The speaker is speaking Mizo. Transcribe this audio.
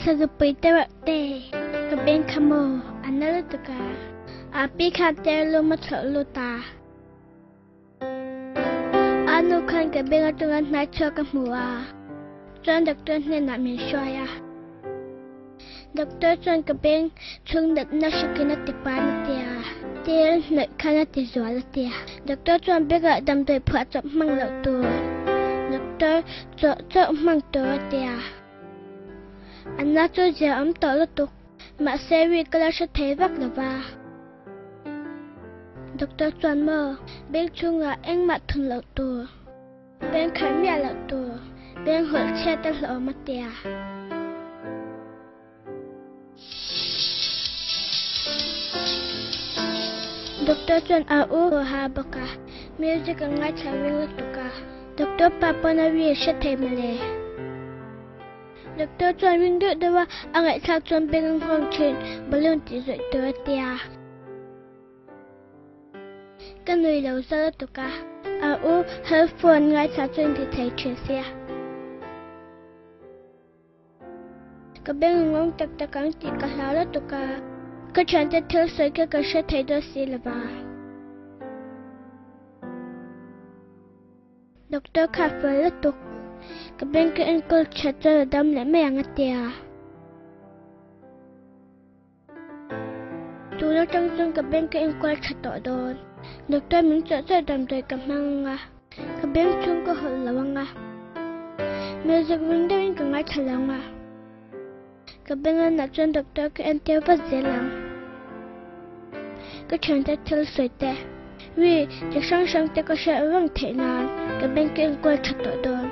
Sazupai tawrh te ka beng kha maw a na lutuk a, aa pi kha ter lu maw chhoh lu ta. Aa nu khan ka beng atanga hnai chhuak ka hmu a, chuan doctor hnenah min hruai a. Doctor chuan ka beng chhungdatna hrikin a tipan a ti a, tel hnawih khan a ti zual a ti a, doctor chuan bengah damdawi phuah chawp hmang loh tur doctor chawh chawh hmang tur a ti a, anna chu zia awm tawh lutuk mahse week ala hre thei vak lova. Doctor chuan maw beng chhungah engmah thun loh tur. Beng khalh miah loh tur beng hawlh chhiat a hlawm a ti a. Doctor chuan a u a ha bawk a, music an ngaithla ring lutuk a, doctor pa pawn a ri hre thei mawle. Doctor chuan ring deuh deuh a, a ngaihthlak chuan beng an nghawng thin, balloon tih zawih tur a ti a. Ka nuih lo zar a tuk a. A u Halfon ngaithla chu inti thei thin si a. Ka beng a ngawng tak tak ang tih ka hlau la tuk a. Ka thiante thil sawi kha ka hre thei dawn si lo va. Doctor kha a fual la tuk. Ka beng ka enkawl chhat chuan a dam leh mai ang a ti a. Tun atang chuan ka bank a enkual tha tawh dawn. Doctor min chawh chawh damdawi ka hmang anga, ka bank chhung ka hawlh lo anga. Melzuk veng deuhin ka ngaithla lo anga. Ka bank lanah chuan doctor ka en tir vat zel ang. Ka thiante thil sawite, wi, chi hrang hrangte ka hriat vang theih nan ka bank a enkual tha tawh dawn.